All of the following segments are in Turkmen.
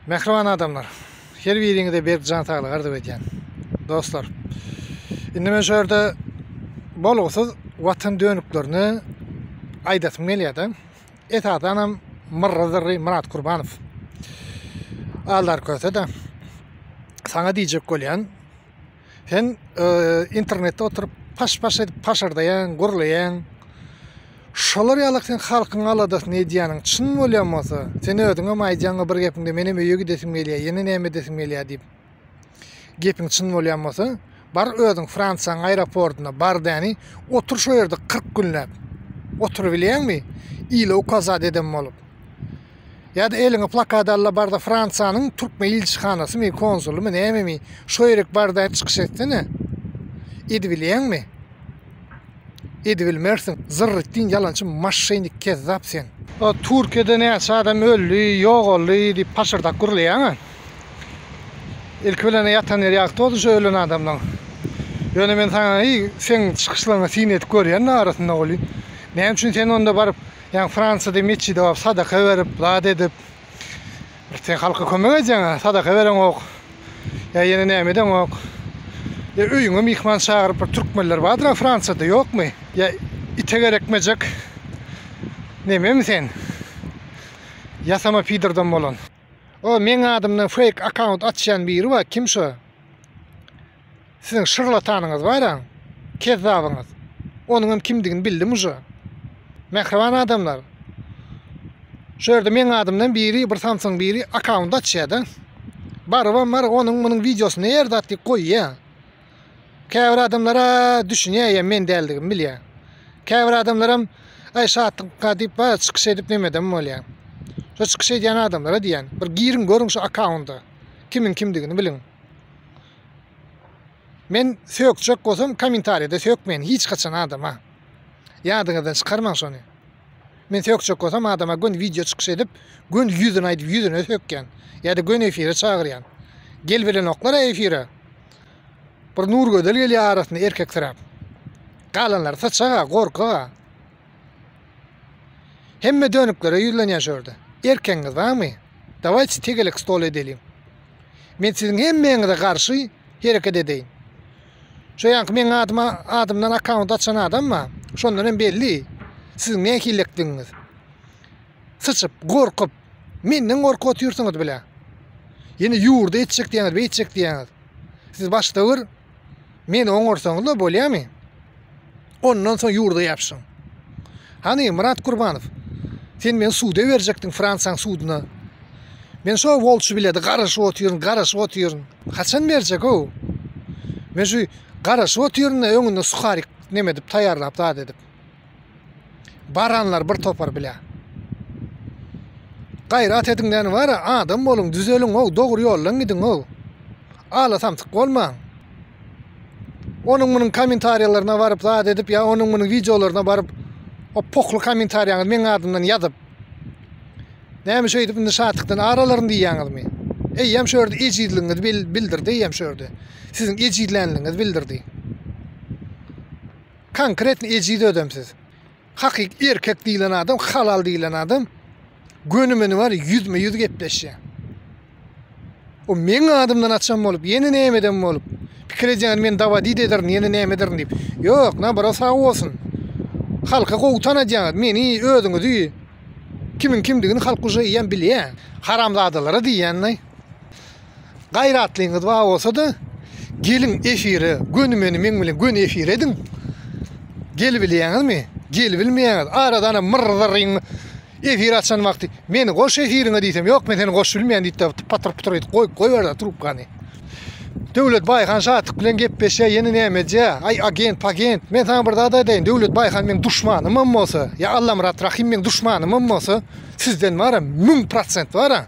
Mähriban adamlar. Her biriňize berk jan saglygy arzuw edýän. Dostlar. Indi men şu ýerde bolgusyz watan dönüklerini aýdasym gelýärdi. Esasan hem Myrra Zyrry Myrat Kurbanow. Aldar köse de. Saňa diýjek bolýan. Sen internetde oturup paş-paş edip paşardaýaň, gürleýäň. Şolar ýaly sen halkyň aladasyny edýäniň çyn bolýan bolsa, sen özüňem aýdýaň bir gepiňde menem öýe gidesim gelýär, ýene näme edesim gelýär diýip. Gepiň çyn bolýan bolsa, bar özüň Fransiýanyň aeroportyna bar däni, otur şo ýerde 40 günläp. Oturyp bilýäňmi? Ile ukazat eden bolup. Ýa-da eliňe plakady al-da bar-da Fransiýanyň türkmen ilçihanasymy, konsulymy, nämemi, şo ýere bar-da çykyş etsene. Edibilýäňmi? Edibilmersiň. Zyrr etdiň, ýalançy maşşenik, kezzap sen. O Türkiýede näçe adam öldi, ýogaldy diýip paşyrdak gürleýäň-ä. Ilki bilen ýatan ýeri ýagty bolsun şo ölen adamlaň. Ýöne men saňa, eý, seň çykyşlaryňa syn edip görýän-de arasynda welin, näme üçin sen onda baryp, Ýaňy Fransiýada metjide baryp sadaka berip, zat edip, bir sen halka kömek edýäň-ä, sadaka bereňok, ýa ýene näme edeňok. Ýa öýüňe myhman çagyryp bir türkmenler bardyr-a Fransiýada, ýokmy? Ýa ite gerekmejek nememi sen? Ýasama pidordan bolan. O meň adymdan fake account açýan biri bar kim şo. Siziň şyrlatanyňyz bar-a, kezzabyňyz. Onuňam kimdigini bildim uje. Mähriban adamlar, şu ýerde meň adymdan biri, bir samsygyň biri akkaunt açýa-da. Barybam bar, onuň munuň wideosy ne ýerde at diýip goýýa. Käbir adamlar-a düşünýä ýa men däldigimi bilýä. Käbir adamlaram aý şatlyk diýip bar çykyş edip nemedem bolýa. Şu çykyş edýän adamlara diýýän, bir giriň görüň şu akkaunda. Kimiň kimdigini biliň. Men sökjek bolsam kommentariýada sökmen hiç haçan adama. Ýadyňyzdan çykarmaň şony. Men sökjek bolsam adama gün video çykyş edip, gün ýüzüni aýdyp ýüzüne sökýän. Ýa-da gün efire çagyrýan. Gel bilenoklar efire. Bir Nur Gözel gelýär arasynda erkek syra. Galanlary saçaga, gorkaga. Hemme dönüklere ýüzlenýär şu ýerde. Erkegiňiz barmy? Dawaýçy tegelek stol edeliň. Men siziň hemmäňize garşy hereket edeýin. Şu ýanky meň adyma adymdan akkaunt açan adam bar. Şondan hem belli. Siziň nähillikdigiňiz. Syçyp, gorkup, menden gorkup otyrsyňyz bile. Ýene ýurda etjek diýýäňiz, beýtjek diýýäňiz. Siz başda bir Meni oňarsaňyzla bolýamy? Ondan soň ýurda ýapyşyň. Hany, Myrat Gurbanow, sen meni suda berjekdiň, Fransiýaň suduna. Men şo wolçy biledi, garaşyp otyryn, garaşyp otyryn. Haçan berjek-ow? Men şu garaşyp otyryn-da, öňünde suharik neme edip, taýýarlap, zat edip. Baranlar bir topar bile. Gaýrat ediň näni bara adam boluň düzeliň ow dogry ýoldan gidiň ow. Ala samsyk bolmaň. Onuň munuň komentarýalaryna baryp zat edip ýa onuň munuň wideolaryna baryp o pokly komentarýaňyzy meň adymdan ýazyp. Näme şeýdip indi şatlykdan ar alaryn diýýäňizmi? Eýýäm şu ýerde ejizligiňizi bildirdi eýýäm şu ýerde. Siziň ejizlänligiňizi bildirdi. Konkretno ejiz ödem siz. Hakyky erkek diýilen adam, halal diýilen adam göni meni bar ýüzme ýüz gepleşýä. O meň adymdan açan bolup, ýene näme eden bolup, pikir edýän men dawadi ederin, ýene näme ederin diýip. Ýok, nabara sag bolsun. Halka gowy tanadýaňyz, meni, özüňizi. Kimiň kimdigini halk uje eýýäm bilýä. Haramzadalara diýýän-de. Gaýratlyňyz bar bolsa-da, geliň efire, göni meni meň bilen göni efir ediň. Gelibilýäňizmi? Gelibilmeýäňiz. Aradan myr-zyryň efir açan wagty meni goş efiriňe diýsem, ýok men seni goşup bilmeýän diýip-de patyr-putyr edip goýup goýberdi trubkany. Döwlet Baýhan Şatyk bilen gepleşýär, ýene näme edýär? Aý agent, pagent, men saňa bir zat aýdaýyn, Döwlet Baýhan meň duşmanym hem bolsa, ýa Allamyrat Rahym meň duşmanym hem bolsa, sizden wara müň prosent wara.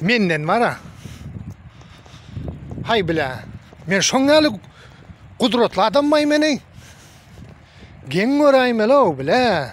Menden bara. Hay bile. Men şoň ýaly gudratly adam baý meni. Geň göräýmeli o bile.